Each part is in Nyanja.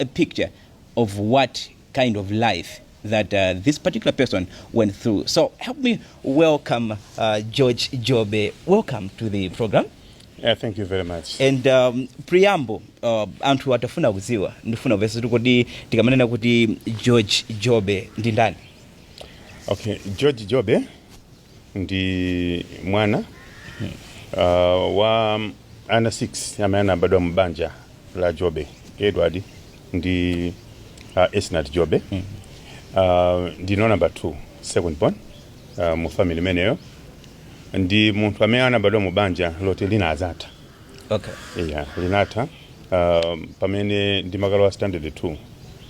a picture of what kind of life that uh, this particular person went through. So help me welcome uh, George Jobe. Welcome to the program. Yeah, thank you very much. and um, preamble uh, anthu atafuna kudziwa ndifuna kuvesa kuti kodi tikamanena kuti george jobe ndi ndani Okay, George Jobe ndi mwana uh, wa ana 6 amene anabadwa mu banja la jobe edward ndi uh, esnat jobe uh, ndine number 2 second born uh, mu family imeneyo ndi munthu amene anabadwa mu banja loti linadzatha okay yeah, linatha um, pamene ndimakalowa standard 2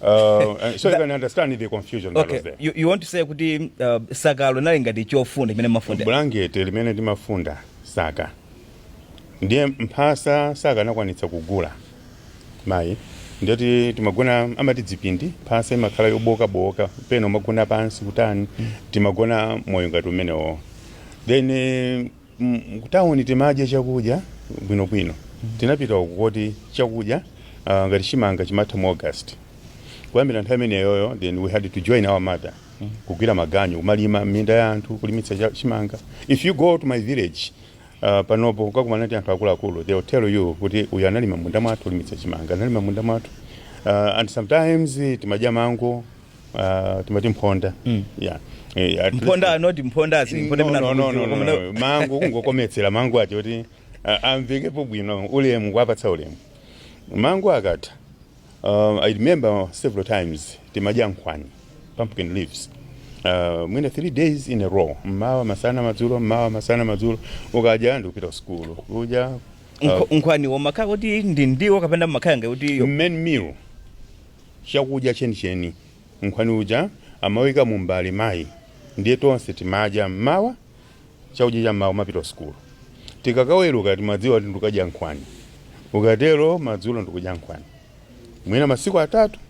Uh, and so you can understand the confusion that okay was there. you, you want to say kuti uh, sakalo linali ngati chofunda chimene mumafunda bulangete limene timafunda saka ndiye mphasa sakanakwanitsa kugula mayi ndiye kuti timagona amati dzipindi mphasa imakhala yobookabooka pena umagona pansi kutani timagona moyo ngati umenewo then eh, Kutauni timadya chakudya bwinobwino. Tinapita uku koti chakudya ah, ngati chimanga chimatha mu August. Kuyambira nthawi imeneyoyo then we had to join our mother kugwira maganyu kumalima m'minda ya anthu kulimitsa cha- chimanga. If you go to my village ah, panopo ukakumana ndi anthu akuluakulu they will tell you kuti uyu analima m'munda mwathu kulimitsa chimanga, analima m'munda mwathu. Ah, and sometimes eh, timadya mango Ah, timati mphonda yeah Eh, at mphonda least- not mphonda as mphonda No, no, no, no, no, mna- no. mango kungokometsera mango ati kuti ah, amvekepo bwino ulemu kuwapatsa ulemu mango akatha um, i remember several times timadya nkhwani pumpkin leaves Uh, mwina three days in a row mmawa masana madzulo mmawa masana madzulo ukadya ndikupita kusukulu kudya uh, Nkho- nkhwaniwo umakhala kuti ndi ndiwo kapena umakhala ngati kuti yo- main meal chakudya chenicheni. Nkhwani uja amauika mumbale mayi ndiye tonse timadya m'mawa chakudya cha m'mawa kumapita kusukulu. Tikakaweruka timadziwa kuti ndikukadya nkhwani. Ukatero madzulo ndikudya nkhwani. Mwina masiku atatu.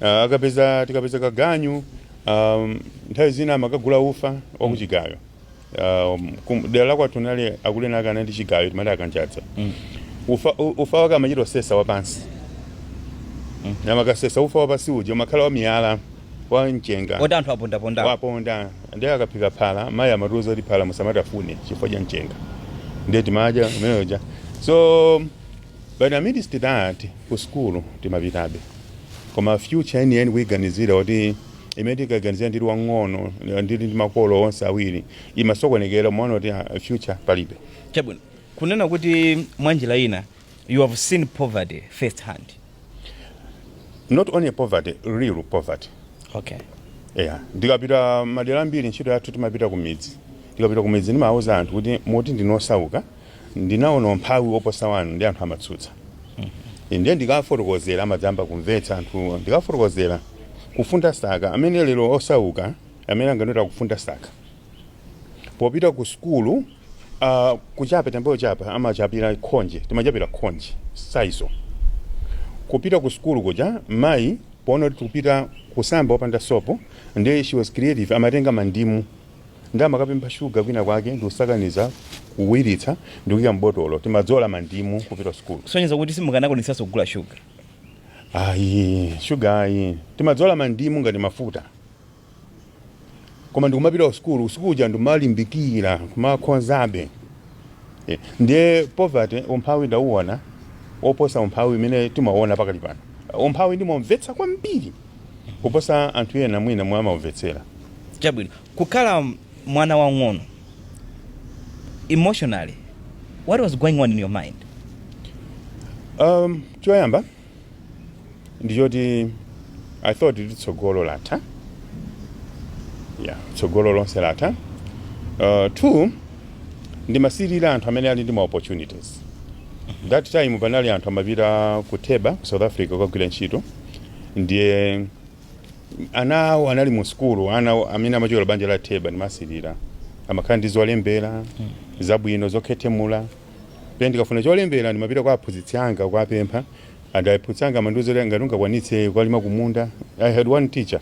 Ah, akapeza tikapeza kaganyu ah, nthawi zina amakagula ufa wakuchigayo. Um, kum- dera la kwathu anali akulera ake anali ndi chigayo timati akanjadza ufa, u- ufa wake amachita sesa wapansi ndiye amakasesa ufa wapansi uja umakhala wa miyala wa mchenga oti anthu apondaponda waponda ndiye akaphika phala mayi amatiuza kuti phala musamatafune chifukwa cha mchenga ndiye timadya imeneyoja so but amidst that ku sukulu timapitabe koma future yeniyeni kuiganizira kuti imene tinkaiganizira ndili wang'ono ndili ndi makolo onse awiri imasokonekera umaona kuti ah, future palibe chabwino kunena kuti mwa njira ina you have seen poverty first hand not only poverty real poverty okay yeah ndikapita madera ambiri ntchito yathu timapita ku midzi ndikapita ku midzi ndimauza anthu kuti mumati ndinu osauka Ndinaona umphawi woposa wanu ndiye anthu amatsutsa. Ine ndiye ndikawafotokozera amadzamba kumvetsa anthuwo. Ndikawafotokozera kufunda saka amene lero osauka amene anganoti akafunda saka. Popita ku sukulu ah, kuchapa tambayo chapa amachapira khonje timachapira khonje saizo kupita ku sukulu kuja mayi poona kuti tikupita kusamba opanda sopo ndiye she was creative amatenga mandimu Ndiye amakapempha sugar kwina kwake ndikusakaniza, kuwiritsa ndikuika m'botolo. Timadzola mandimu kupita kusukulu. Kusonyeza kuti simukanakwanitsanso kugula sugar? Ayi, sugar ayi. Timadzola mandimu ngati mafuta. Koma ndikumapita kusukulu, usiku uja ndimalimbikira kumakhonzabe. Eh, ndiye poverty, umphawi ndinauona woposa umphawi umene timauona pakali pano. Umphawi ndimaumvetsa kwambiri. kuposa anthu ena mwina momwe amaumvetsera. Chabwino, kukhala mwana wang'ono, emotionally what was going on in your mind? Um, choyamba ndi choti I thought kuti tsogolo latha. Yeah, tsogolo lonse latha. Uh, two, ndimasirira anthu amene ali ndi ma opportunities. That time panali anthu amapita ku Theba ku South Africa kukagwira ntchito. ndiye ana awo anali mu sukulu amene amachokera banja la theba ndimasirira amakhala ndi zolembera zabwino zokhethemula pena ndikafuna cholembera ndimapita kwa aphunzitsi anga kuwapempha and aphunzitsi anga amandiuza kuti ngati ungakwanitse kukalima kumunda i had one teacher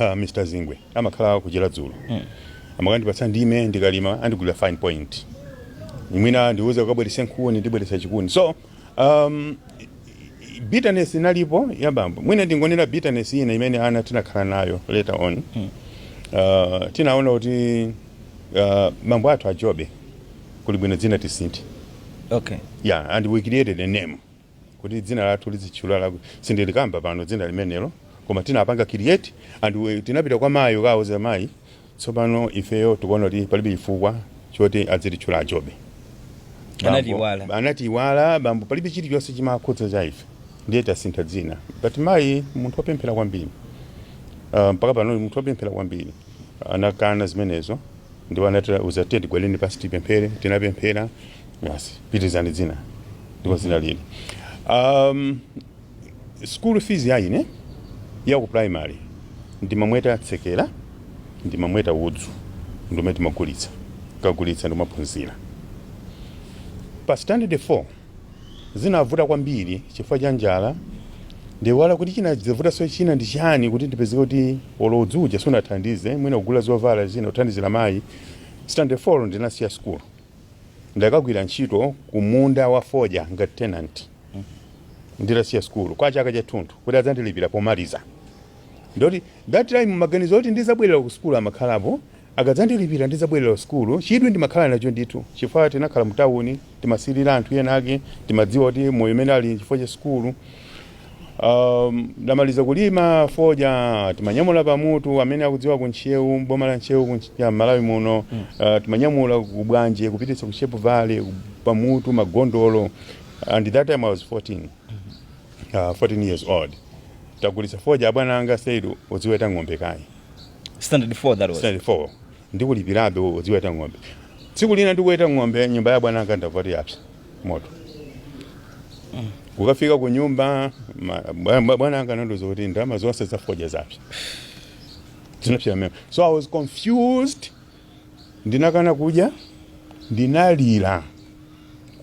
uh, mr zingwe amakhala kuchera dzulo amakandipatsa ndime ndikalima andigulira fine point mwina andiuza ukabweretse nkhuni ndibweretsa chikuni so Um, bitterness inalipo ya bambo mwina ndingonena bitterness ina imene ana tinakhala nayo later on uh, tinaona kuti uh, bambo athu a Jobe kuli bwino dzina tisinthe okay yeah and we created a name kuti dzina lathu lizitchula laku sindilikamba pano dzina limenelo koma tinapanga create and we, tinapita kwa mayi kukauza mayi Tsopano ifeyo tikuona kuti palibe chifukwa choti adzititchula a Jobe. Anatiiwala. Anatiiwala, bambo, palibe chilichonse chimakhudza cha ife. Ndiye tasintha dzina. But mayi munthu wopemphera kwambiri. Ah, mpaka pano ndi munthu wopemphera kwambiri. Anakana zimenezo ndipo anatiuza kuti tiye tigwadeni pansi tipemphere. Tinapemphera. Basi, pitirizani dzina. Ndipo dzina lili. Um, School fees ya ine ya ku primary ndimamweta tsekera, ndimamweta udzu ndiumene timagulitsa, tikagulitsa ndikumaphunzira. Pa standard 4 zinavuta kwambiri chifukwa cha njala, ndaiwala kuti chinadzavutanso china ndi chani kuti ndipezeke kuti olo udzu uja sunathandize, mwina kugula zovala zina kuthandizira mayi, standard 4 ndinasiya sukulu. Ndakagwira ntchito kumunda wa fodya ngati tenant nditasiya sukulu kwa chaka chathunthu kuti adzandilipira pomaliza. Ndoti that time maganizo oti ndidzabwerera kusukulu amakhalapo, akadzandilipira ndidzabwerera kusukulu. Chidwi ndimakhala nacho ndithu chifukwa tinakhala mutauni, timasirira anthu enaake, timadziwa kuti moyo umene ali n'chifukwa cha sukulu. Um, ndamaliza kulima foja timanyamula pamutu amene akudziwa ku Ntcheu boma la Ntcheu ku Ntch- ya Malawi muno uh, timanyamula ku Bwanje kupititsa ku Sharpevale ku- pamutu magondolo and that time I was 14 uh, 14 years old tagulitsa foja abwana anga said udziweta ng'ombe kaye standard 4 that was standard 4 Ndikulipirabe udziweta ng'ombe. Tsiku lina ndikuweta ng'ombe, nyumba ya abwana anga ndamva kuti yapsa moto. Kukafika kunyumba, ma- bwa- bwa- bwana anga anandiuza kuti ndalama zonse za fodya zapsa. Zinapsa pamene. So I was confused. Ndinakana kudya, ndinalira,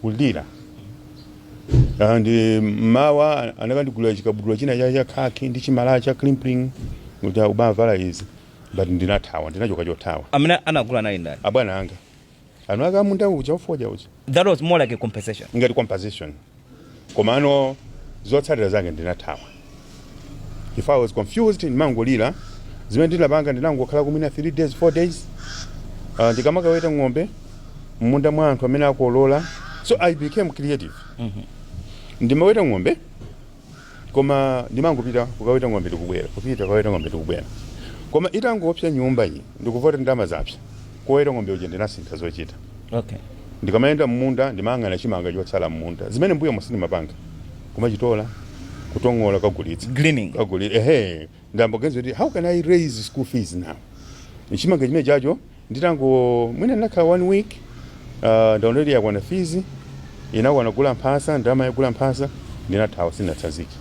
kulira. And eh, mawa anakandigulira chikabudula china cha cha khaki ndi chimalaya cha crimplene kuti uzivala izi. but ndinathawa ndinachoka chothawa Amene anagula anali ndani? abwana anga eni ake munda uja wa fodya uja That was more like a compensation. ngati compensation komano zotsatira zake ndinathawa 'cause i was confused ndimangolira zimene ndinapanga ndinangokhala mwina 3 days 4 days uh, ndikamakaweta ng'ombe mmunda mwa anthu amene akolola so i became creative ndimaweta ng'ombe koma ndimangopita kukaweta ng'ombe ndikubwera kupita kukaweta ng'ombe ndikubwera koma itangopsa nyumba iyi ndikuva kuti ndalama zapsa koweta ng'ombe uja ndinasintha zochita okay ndikamayenda m'munda ndimayang'ana chimanga chotsala m'munda zimene m'mbuyomu sindimapanga kumachitola kutong'ola kukagulitsa Gleaning. kaguli ehe Ndayamba kuganiza kuti how can I raise school fees now nchimanga chimenecho nditango mwina ndinakhala one week uh, ndaona kuti yakwana fees inakwana kugula mphasa ndalama yogula mphasa ndinathawa sindinatsazike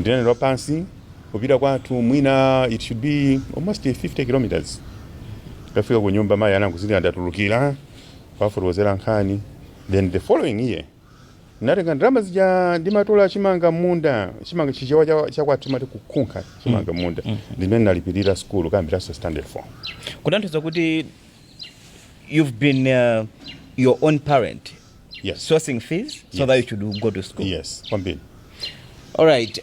ndinayenda pansi kupita kwathu mwina it should be almost 50 kilometers ndafika ku nyumba mayi anangozindikira ndatulukira kuwafotokozera nkhani then the following year Ndinatenga ndalama zija ndimatola chimanga m'munda, chimanga Chichewa cha, cha kwathu timati kukhunkha chimanga m'munda, ndimene ndinalipirira sukulu kuyambiranso standard 4. kutanthauza kuti you've been uh, your own parent Yes. sourcing fees so Yes. that you should go to school Yes, kwambiri. all right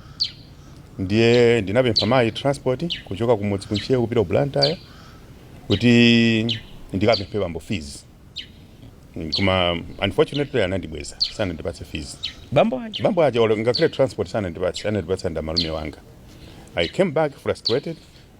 ndiye ndinapempha mayi transport kuchoka kumudzi ku Ntcheu kupita ku blantyre kuti ndikapemphe bambo fees Mm, koma unfortunately anandibweza sanandipatse fees bambo aja bambo aja olo ngakhale transport sanandipatse anandipatsa ndi amalume anga i came back frustrated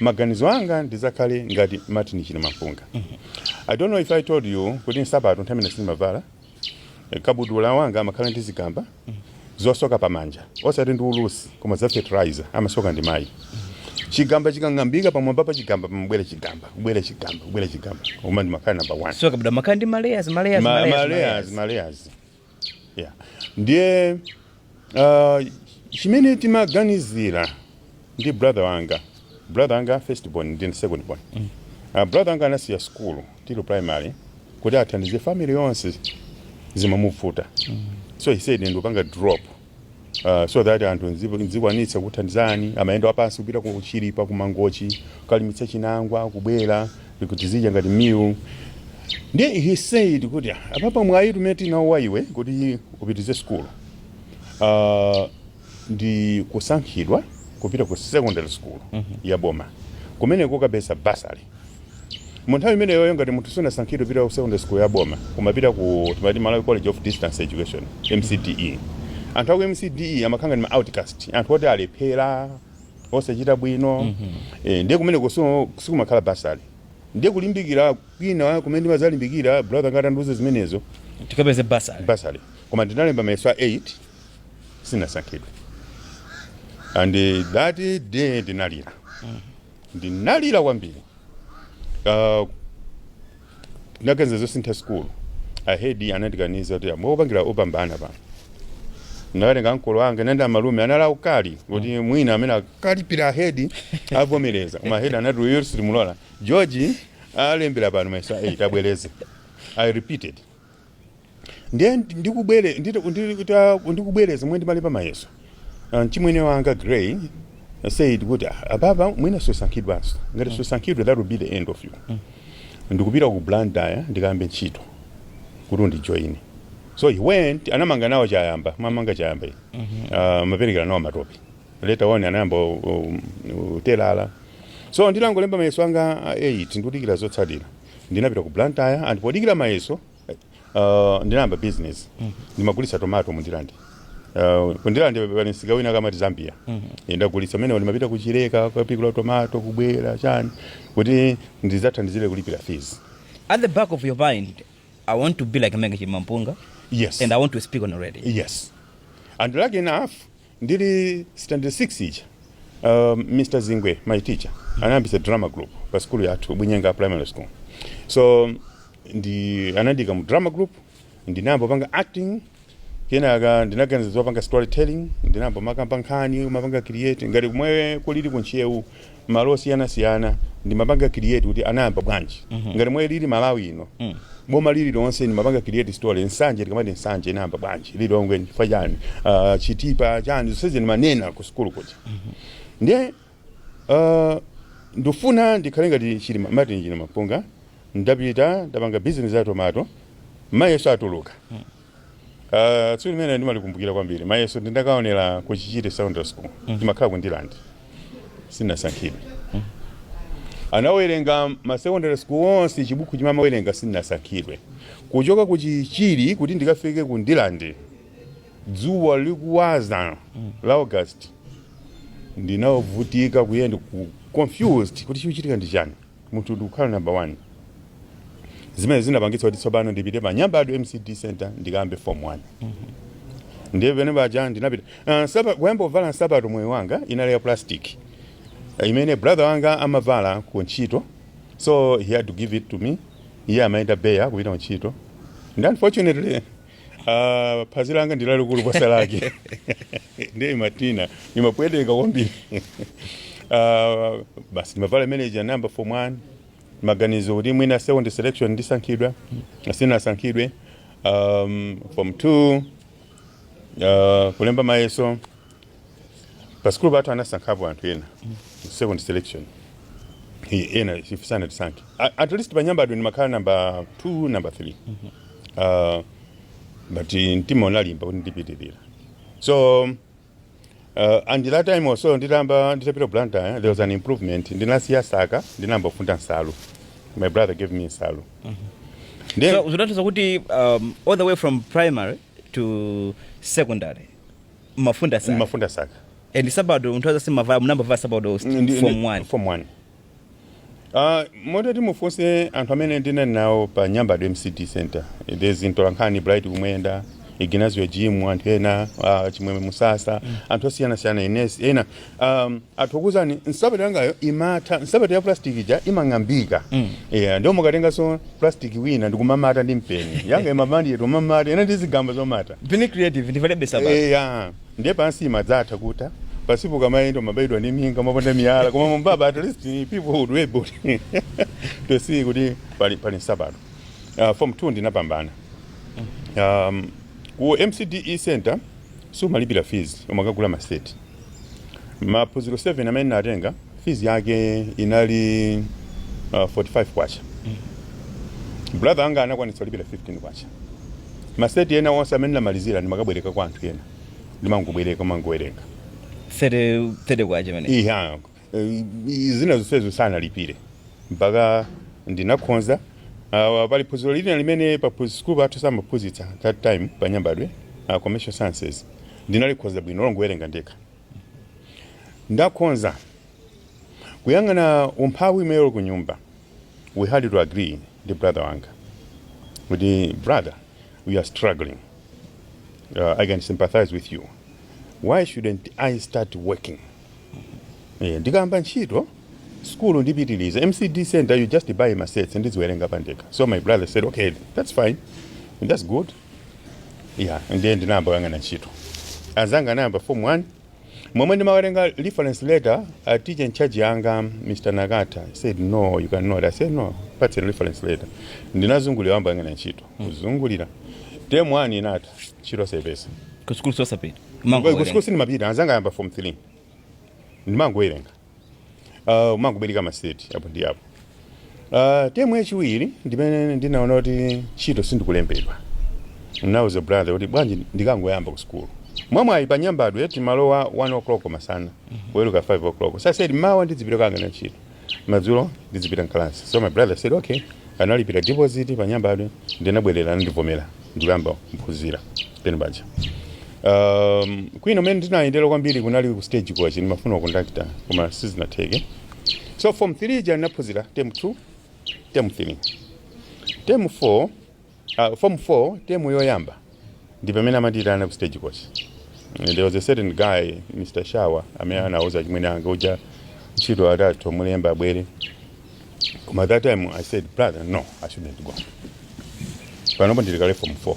maganizo anga ndidzakhale ngati Martin Chilimampunga i don't know if i told you kuti nsapato nthawi imene sindimavala eh, kabudula wanga amakhala ndi zigamba zosoka pamanja osati ndi ulusi koma za fertilizer amasoka ndi mayi chigamba chikang'ambika pamwamba pa chigamba pamabwera chigamba kubwera chigamba kubwera chigamba koma ndimakhala number one so kabudula amakhala ndi malayers malayers Yeah. Ndiye uh, chimene timaganizira ndi brother wanga brother wanga first born ndi second born mm. uh, brother wanga anasiya skulu tili primary kuti athandize family yonse zimamuvuta mm. so he said ndikupanga drop uh, so that anthu nzi- nzikwanitsa kuthandizani amayenda wapansi kupita ku Chilipa ku Mangochi kukalimitsa chinangwa kubwera ndikuti tizidya ngati meal ndiye he said kuti "Ah, apapa mwayi umene tinawo wa iwe kuti upitize sukulu uh, ndi kusankhidwa kupita ku secondary school ya boma kumeneko ukapeza bursary Mu nthawi imeneyoyo ngati munthu sunasankhidwe kupita ku secondary school ya boma umapita ku timati Malawi College of Distance Education, MCDE. Anthu aku MCDE amakhala ngati ma outcast, anthu oti alephera, osachita bwino. Eh, ndiye kumeneko so sikumakhala bursary. Ndiye kulimbikira kwina kumene ndimadzalimbikira brother wanga atandiuza zimenezo tikapeze bursary bursary. Koma ndinalemba mayeso a 8 sinasankhidwe. And eh, that day ndinalira. ndinalira kwambiri uh, ndinaganiza zosintha sikulu ahedi anandikaniza kuti amwe opangira opambana pano ndinakatenga ankolo anga anayenda malume anali aukali kuti mwina amene akalipira ahedi avomereza koma ahedi anati uyo sitimulola George alembera pano mayeso a 8 abwereze i repeated ndiye ndikubwere ndita- ndita- ndikubwereza momwe ndimalemba mayeso Ah, mchimwene wanga Gray said kuti "Ah, apapa mwina susankhidwanso ngati susankhidwa that will be the end of you ndikupita ku Blantyre ndikayambe ntchito kuti undijoine so he went anamanga nawo Chayamba amamanga Chayamba iyi Ah, amaperekera nawo matope later on anayamba u- u- utelala so nditangolemba mayeso anga 8 ndikudikira zotsatira ndinapita ku Blantyre and podikira mayeso uh, ndinayamba business ndimagulitsa tomato mu Ndirande Uh, ku Ndirande pali msika wina amati Zambia Eh, ndagulitsa mene ndimapita ku Chileka kapikula tomato kubwera chani kuti ndizathandizire kulipira fees at the back of your mind i want to be like Martin Chilimampunga yes and i want to speak on radio yes and lucky enough Ndili standard 6 ija um, Mr Zingwe my teacher anayambitsa drama group pa sukulu yathu Bunyenga primary school so ndiye anandiika mu drama group ndinayamba panga acting kenaka ndinaganiza zopanga storytelling ndinayamba kumakamba nkhani umapanga create ngati momwe kulili ku Ntcheu malo osiyanasiyana ndimapanga create kuti anayamba bwanji ngati mwe lilili malawi lino boma lililonse ndimapanga create story nsanje tikamati nsanje inayamba bwanji lilongwe chifukwa chani Ah, chitipa chani zonsezi ndimanena ku sukulu kuja ndiye ah, ndifuna ndikhale ngati chilima martin chilimampunga ndapita ndapanga business ya tomato mayeso atuluka Uh, tsiku limene ndimalikumbukira kwambiri mayeso ndindakaonera ku chichiri secondary school ndimakhala ku ndirande sinasankhidwe anawerenga ma secondary school onse chibukhu chimene amawerenga sinasankhidwe kuchoka ku chichiri kuti ndikafike ku ndirande dzuwa likuswa la august ndinavutika kuyenda confused kuti chachitika ndi chani munthu ndikukhala number 1 zimene zinapangitsa kuti tsopano ndipite pa nyambadwe mcde center ndikayambe form 1 ndiye pamene paja ndinapita Ah, nsapa- kuyamba kuvala nsapato moyo wanga inali ya plastic Ah, imene brother wanga amavala ku ntchito so he had to give it to me iye amayenda bare kupita ku ntchito and unfortunately Ah, phazi langa ndi lalikulu kuposa lake ndiye imatina imapweteka kwambiri Ah, basi ndimavala imene ja number form one maganizo kuti mwina second selection ndisankhidwa sinasankhidwe um, form two uh, kulemba mayeso pa sukulu pathu anasankhapo anthu ena mu second selection I- ena ife sanatisankhe A- at least pa nyambadwe ndimakhala namba 2 namba 3 uh, but mtima unalimba kuti ndipitirira so Uh, and that time also nditamba nditapita ku Blantyre there was an improvement ndinasiya saka ndinayamba kufunda nsalu my brother gave me nsalu Ndiye- so zinatanthauza kuti um, all the way from primary to secondary ndimafunda saka kumafunda saka and nsapato munthu sumavala munayamba kuvala nsapato muli Ndi- ndi- form 1 form 1 Uh, moti mutafunsa anthu amene ndinali nawo pa nyambadwe mcde center there's mtolankhani bright kumwenda ignazio jim anthu ena uh, chimwemwe musasa anthu osiyanasiyana ines ena um, atha kukuuzani nsapato yangayo imatha nsapato ya plastic ija imang'ambika mm. yeah, ndiye umakatenganso plastic wina ndikumamata ndi mpeni yangayo inali yomatamata ndi zigamba zomata being creative ndivalebe nsapato. yeah. ndiye pansi imadzatha kutha pansipo ukamayenda umabayidwa ndi minga umaponda miyala koma mmwambamu at least people would be able to see kuti pali, pali nsapato uh, form 2 ndinapambana um, ku mcde center sumalipira fees umakagula maseti maphunziro 7 amene ndinatenga fees yake inali uh, 45 kwacha brother anga anakwanitsa kulipira 15 kwacha maseti ena onse amene ndinamalizira ndimakabwereka kwa anthu ena ndimangobwereka kumangowerenga 30 kwacha imene ija zina zonsezo sanalipire mpaka ndinakhonza uh, pali phunziro lina limene pa phunzi- sukulu pathu samaphunzitsa that time pa nyambadwe uh, commercial sciences ndinalikhonza bwino longowerenga ndekha ndakhonza kuyang'ana umphawi umene uli ku nyumba we had to agree ndi brother wanga kuti brother we are struggling uh, i can sympathize with you why shouldn't i start working Eh, ndikayamba ntchito sukulu ndipitiliza mcd center you just buy masets ndidziwerenga pandekha so my brother said okay that's fine and that's good yeah ndiye ndinayamba kuyang'ana ntchito anzanga anayamba form 1 momwe ndimatenga reference letter a teacher in charge yanga mr nakata he said no you cannot i said no mundipatse reference letter ndinazungulira kuyamba kuyang'ana ntchito kuzungulira term 1 inatha ntchito osaipeza Ku sukulu osapita. Mangowerenga. kusukulu sindimapita anzanga ayamba form 3 ndimangowerenga uh, kumangobwereka maseti apo ndi apo uh, temu yachiwiri ndimene ndinaona kuti ntchito sindikulembedwa nauza brother kuti bwanji ndikangoyamba ku sukulu mwamwayi pa nyambadwe timalowa 1 o'clock masana kuweruka 5 o'clock so i said mmawa ndidzipita kukayang'ana ntchito Madzulo ndidzipita m'kalasi. So my brother said, okay. Analipira deposit pa Nyambadwe, ndinabwerera anandivomera ndikuyamba kuphunzira pamene paja. Um, kwina kumene ndinayendera kwambiri kunali ku stagecoach ndimafuna ukondakitala koma sizinatheke. So form 3 ija ndinaphunzira term 2, term 3, term 4 Uh, form 4 temu yoyamba ndi pamene amandiitana ku stage coach. There was a certain guy Mr. Shawa amene anauza achimwene anga uja ntchito atha kumulemba abwere. Koma that time I said brother no I shouldn't go. Panopo ndili kale form 4.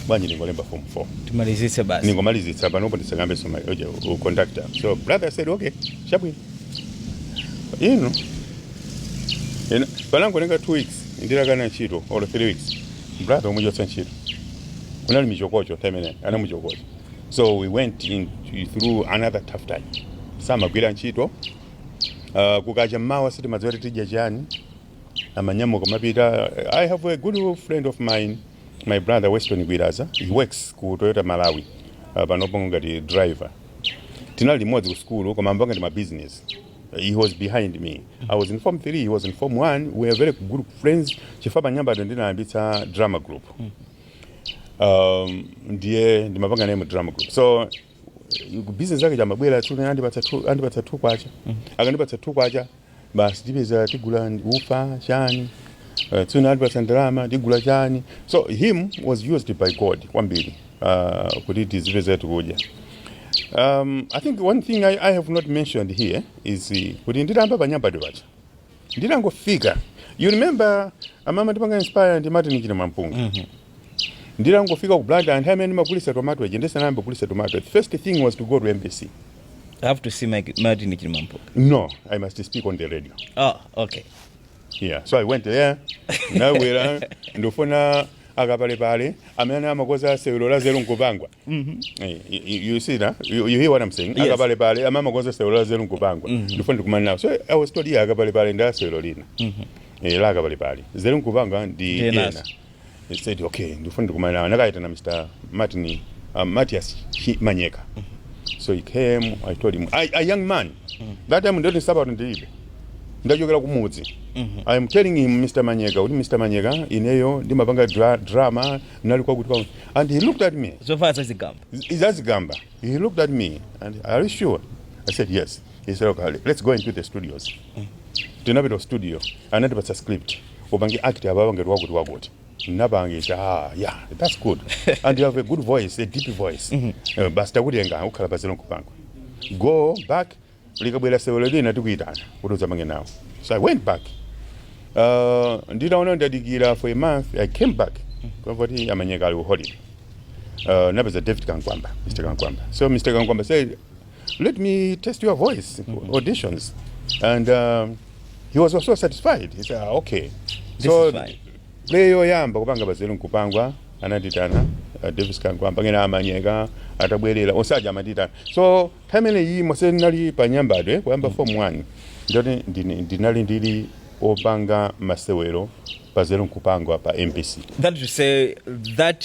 Bwanji ndingolemba form 4. ndimalizitse basi Ndingomalizitsa panopo ndisakambe za uja u conductor. So brother said okay chabwino. Inu. Panangotenga 2 weeks nditakana ntchito or 3 weeks brother anamuchotsa ntchito kunali michokocho nthawi imene anamuchokoza so we went in through another tough time samagwiranso ntchito uh, kukacha mmawa sitimadziwa kuti tidya chani amanyamuka amapita i have a good friend of mine my brother weston gwiraza he works ku toyota malawi uh, panopo ngati driver tinali limodzi ku sukulu koma amapanga ndi mabizinesi He was behind me. I was in Form 3, he was in Form 1. We were very good friends. Chifukwa pa Nyambadwe ndinayambitsa drama group. Um, ndiye ndimapanga naye mu drama group. So business yake ija amabwera tu naye andipatsa tu andipatsa tu kwacha. Akandipatsa tu kwacha basi tipeza tigula ufa chani. Uh, tuna andipatsa ndalama tigula chani. So him was used by God kwambiri. uh, kuti tizipeza tikudya um, i think one thing I, i have not mentioned here is uh, kuti nditayamba pa Nyambadwe paja nditangofika you remember amandipanga inspire ndi martin chilimampunga mm -hmm. nditangofika ku blantyre anthu amene ndimagulisa tomato aja ndisanayambe kugulisa tomato the first thing was to go to mbc I have to see Mike, Martin Chilimampunga. no i must speak on the radio Ah, okay. yeah so i went there ndabwera ndifuna akapalepale amene amakoza sewero la nzeru nkupangwa Eh, you- you you see now you, you hear what i'm saying Yes. akapalepale amene amakoza sewero la nzeru nkupangwa ndifuna ndikumane nawo so i was told yeah akapalepale ndi asewero lina Eh, la akapalepale nzeru nkupangwa ndi Ndi ena enanso. I said, okay, ndifuna ndikumane nawo. Anakaitana Mr. Martin, uh, Matthias Chi- Manyeka. So he came, I told him, I, a young man, that time ndoti nsapato ndilibe. Ndachokera kumudzi. I am telling him, Mr. Manyeka, kuti Mr. Manyeka, ineyo ndimapanga dra drama, ndinali kwakuti kwakuti. And he looked at me. zovala zazigamba Zazigamba? He looked at me and are you sure? I said yes. He said, okay, let's go into the studios. tinapita ku studio anandipatsa script upange act apapa ngati wakuti wakuti napangisa ah, yeah that's good and you have a good voice a deep voice mm -hmm. uh, basi takutenga ukhala pa nzeru nkupangwa go back likabwera sewero lina tikuyitana kuti udzapange nawo so i went back uh, nditaona ndadikira for a month i came back kuti amanyeka ali ku holiday uh, ndapeza david kankwamba mr kankwamba so mr kankwamba said let me test your voice mm -hmm. auditions and um, he was also satisfied he said ah, okay This so play yoyamba kupanga pa nzeru nkupangwa anandiitana uh, davis kankwamba kenako amanyeka atabwerera onse aja amandiitana so time imene imo nse ndinali pa nyambadwe kuyamba mm. form 1 ndoti ndinali ndili opanga masewero pa nzeru nkupangwa pa mbc that to say that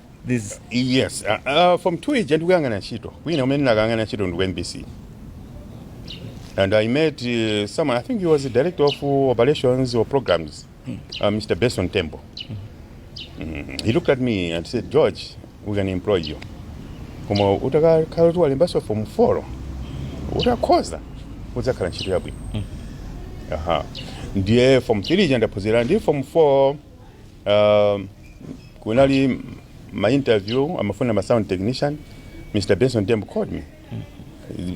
This Yes, uh, uh, form 2 ija ndikuyang'ana ntchito kwina kumene ndakayang'ana ntchito ndi ku MBC and I met uh, someone I think he was the director of uh, operations or programs uh, Mr. Benson Tembo mm, he looked at me and said George we can't employ you koma utakakhala kuti walembanso form 4 utakhoza udzakhala ntchito yabwino aha ndiye form 3 ija ndaphunzira ndi form 4 Um, kunali ma interview amafuna ma sound technician Mr. Benson Tembo called me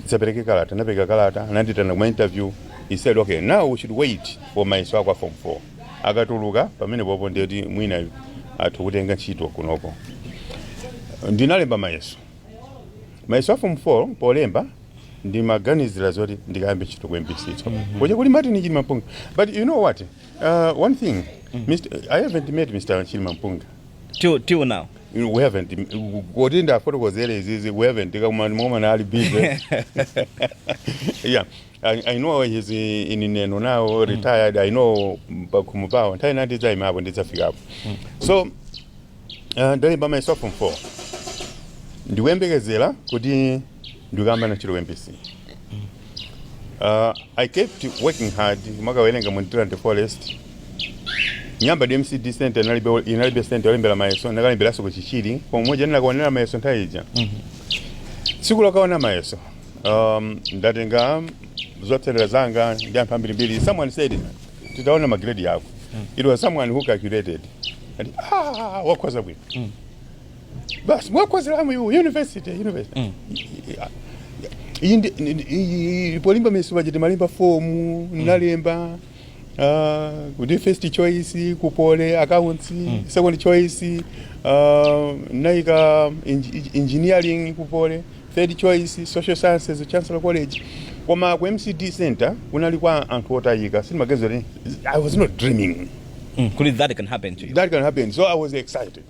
dzapereke kalata ndapereka kalata anandiitana kuma interview he said okay now we should wait for mayeso ako a form 4 akatuluka pamenepopo ndiye kuti mwina atha kukutenga ntchito kunoko ndinalemba mayeso mayeso a form 4 polemba ndimaganizira zoti ndikayambe ntchito ku mbc so kuja kuli martin chilimampunga but you know what Uh, one thing, Mr. I haven't met Mr. Chilima Mpunga. till till now We haven't. Kodi ndafotokozere izizi, we haven't. Kama mama na ali busy. yeah. I, I know he's in in Neno now, retired. I know pakumu pao. Ntai nati za imapo, ndizafika hapo. So, uh, ndali by myself from four. Ndiwembekezera kuti ndikuyamba na ntchito mbc uh, i kept working hard makawerenga mu Ndirande ndi forest nyamba ndi MCDE center inalibe inalibe center yolembera mayeso ndakalemberanso ku chichiri pomwe muja ndinakaonera mayeso nthawi ija tsiku lokaona mayeso um, ndatenga zotsatira zanga ndi anthu ambirimbiri someone said titaona magredi yako it was someone who calculated and ah wakhoza bwino basi mwakozeramu iwo university university Mm. iyi ndi- ndi- ndi- iyi- polimba misipa chiti malemba fomu nalemba ah, kuti first choice ku Poly accounts second choice ah, naika engi- engineering ku Poly third choice social sciences chancellor college koma ku MCDE center kunali kwa anthu otayika sindimaganiza kuti i was not dreaming Mm, kuti that can happen to you that can happen so i was excited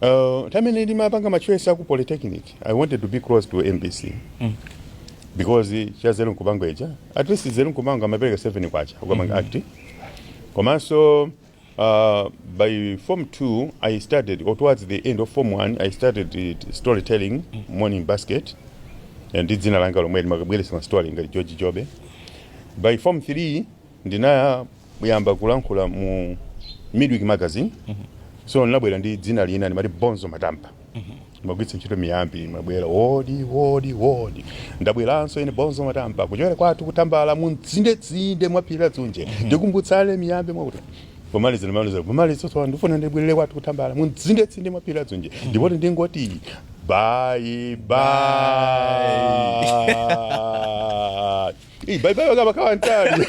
Uh, nthawi imene ndimapanga machoice aku polytechnic i wanted to be close to mbc mm. because za Dzino nkupanga ija at least za Dzino nkupanga amapereka 7 kwacha ukamanga mm -hmm. act komanso uh, by form 2 i started or towards the end of form 1 i started it- storytelling mm -hmm. morning basket ndi dzina langa lomwe limakabweretsa ma story ngati george jobe by form 3 Ndinayamba kulankhula mu Midweek Magazine. So ndinabwera ndi dzina lina ndimati Bonzo Matampa. Ndimagwiritsa ntchito miyambi, ndimabwera wodi wodi wodi. Ndabweranso ine Bonzo Matampa kuchokera kwathu ku Tambala mu mtsindetsinde mwa phiri la Dzunje. Tikumbutsane miyambi mwakuti. Pomaliza ndimaliza pomaliza tsopano ndifuna ndibwerere kwathu ku Tambala mu mtsindetsinde mwa phiri la Dzunje. Ndipo ndingoti bye bye. Hey, bye bye wakaba kawantali.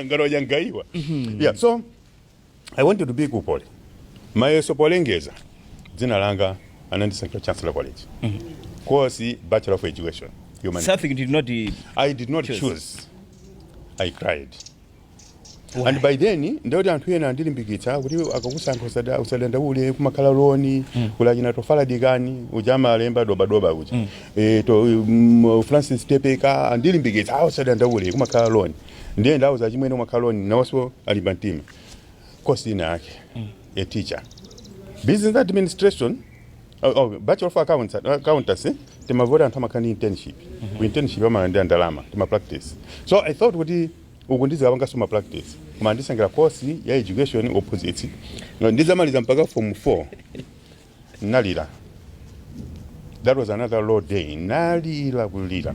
Ngalo yangaiwa. Yeah, so I wanted to be ku pole. Mayeso polengeza dzina langa anandisankhira Chancellor College. Course Bachelor of Education. Humanity. Something did not. uh, I did not Choose. choose. I cried. and by then ndikuti anthu ena andilimbikitsa kuti akakusankha usada- usadandaule kumakhala loni kuli achina Tofa Dikani uja amalemba dobadoba uja Eh, to mm, francis tepeka andilimbikitsa ah usadandaule kumakhala loni ndiye ndawauza achimwene kumakhala loni nawonso alimba mtima course inayake a teacher business administration Oh, oh, bachelor of accounts accountancy timamva zoti anthu amakhala ndi internship ku internship amalandira ndalama tima practice so i thought kuti uku ndidzikapanganso ma practice koma andisankhira course ya education opposite No, ndidzamaliza mpaka form 4 nalira that was another low day nalira kulira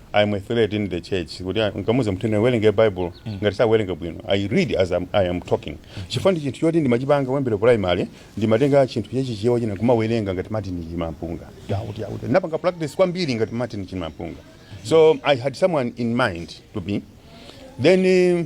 I am a threat in the church kuti ah, nkamuuza munthu awerenge bible ngati sakuwerenga bwino i read as I'm, i am talking chifukwa ndi chinthu choti ndimachipanga kuyambira primary ndimatenga chinthu chachichewa china kumawerenga ngati martin chilimampunga yauti yauti ndinapanga practice kwambiri ngati martin chilimampunga so i had someone in mind to be then eh,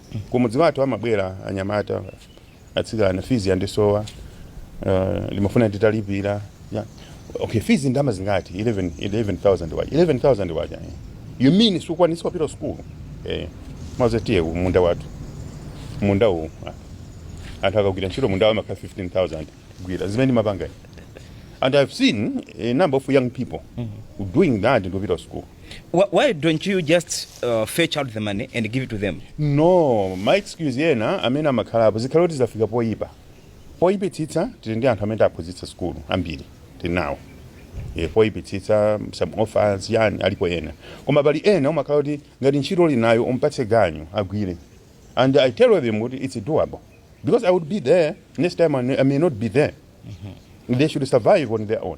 Kumudzi kwathu amabwera anyamata atsikana fees yandisowa uh, ndimafuna nditalipira yeah. okay fees ndalama zingati 11 11000 waja 11000 waja eh. you mean sukwanisa kupita school eh maze tiye ku munda wathu munda uwu ah. anthu akagwira ntchito munda wa ma K 15000 gwira zimene ndimapanga and i've seen a number of young people doing that ndopita school Wh- Why don't you just uh, fetch out the money and give it to them? no ma excuse ena amene amakhala apo zikhale kuti zafika poipa poipitsitsa tili ndi anthu amene tawaphunzitsa sukulu ambiri tili nawo e, poipitsitsa some orphans yani alipo ena koma pali ena umakhala kuti ngati ntchito ndili nayo umpatse ganyu agwire and i tell them kuti it's doable because i would be there next time i may not be there they should survive on their own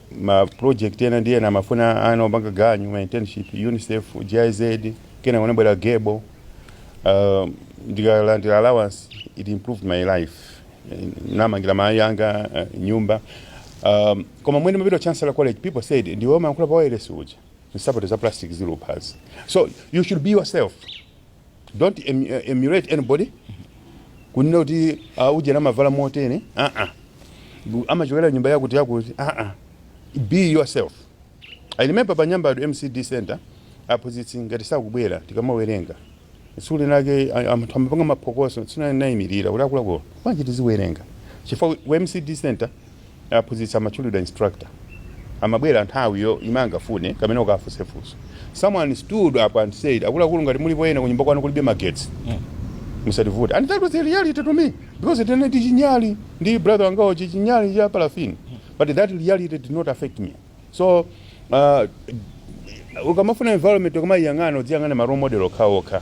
ma project ena ndiye amafuna ana opanga ganyu ma internship UNICEF GIZ kena kunabwera Gable uh, ndikalandira allowance it improved my life ndinamangira mayi anga uh, nyumba um, koma mmene ndimapita chancellor college people said ndiwe umayankhula pa wireless uja nsapato za plastic zili kuphazi so you should be yourself Don't emulate anybody kunena kuti ah, ujeni amavala motere ah -ah. amachokera nyumba yakuti yakuti ah -ah. be yourself i remember pa nyambado mcd center aphunzitsi ngati sakubwera tikamawerenga tsiku linake anthu amapanga maphokoso tsiku linake ndinaimirira kuti akuluakulu bwanji tiziwerenga chifukwa ku mcd center aphunzitsi amatchulidwa instructor amabwera nthawi yomwe angafune kapena kuti ukafunse funso someone stood up and said akuluakulu ngati mulipo ena kunyumba kwanu kulibe magetsi musativute and that was the reality to me because tinali ndi chinyali ndi brother wangawo chichinyali cha parafini but that reality did not affect me so uh, ukamafuna environment ukamaiyang'ana uziyang'ana ma role model okhaokha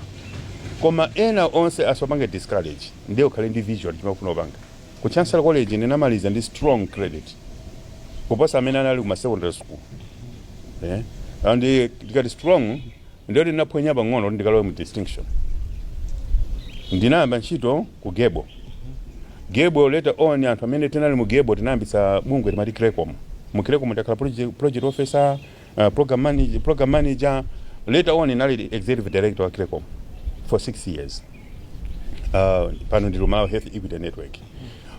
koma ena onse asakupange discourage ndiye ukhale ndi vision chimene ukufuna kupanga ku chancellor college ndinamaliza ndi strong credit kuposa amene anali ku ma secondary school eh? and eh, tikati strong Ndiye kuti ndinaphonya pang'ono kuti ndikalowe mu distinction. Ndinayamba ntchito ku Gable. Gable later on anthu amene tinali mu Gable tinayambitsa bungwe timati Crecom. Mu Crecom ndinakhala project, project officer, uh, program manager, program manager. Later on ndinali executive director wa Crecom for six years. Uh, pano ndili ku Malawi Health Equity Network.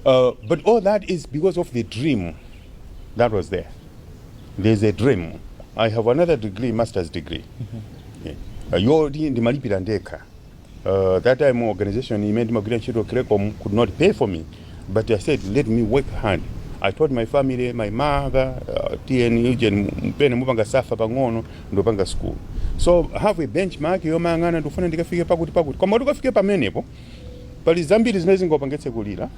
Uh, but all that is because of the dream that was there. there is a dream i have another degree masters degree Yeah. Uh, yoti ndimalipira ndekha uh, that time organization imene ndimagwira ntchito crecom could not pay for me but i said let me work hard i told my family my mother uh, mwina mpene mupanga suffer pang'ono ndipanga school so have a benchmark yomayang'ana ndikufuna ndikafike pakuti pakuti koma kuti ukafike pamenepo pali zambiri zimene zingakupangitse kulira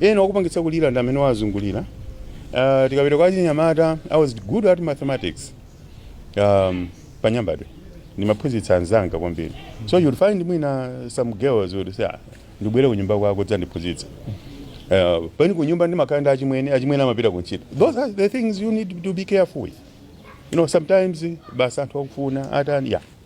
ena okupangitsa kulira ndi amene akuzungulira uh, tikapita kwa chinyamata i was good at mathematics um, panyambadwe ndimaphunzitsa anzanga kwambiri so you'll find mwina some girls would say "Ah, ndibwere kunyumba kwako udzandiphunzitse uh, pamene kunyumba ndimakhala ndi achimwene achimwene amapita kuntchito those are the things you need to be careful with you know sometimes basi anthu akufuna atani yeah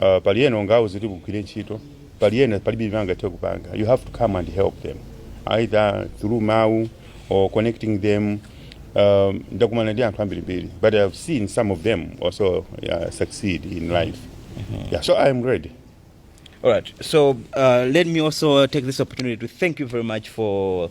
uh, pali ena ungawauze kuti ukagwire ntchito pali ena palibe chimene angathe kupanga you have to come and help them either through mawu or connecting them um, ndakumana ndi anthu ambirimbiri but i've seen some of them also uh, succeed in life yeah, so i'm ready All right. So uh, let me also take this opportunity to thank you very much for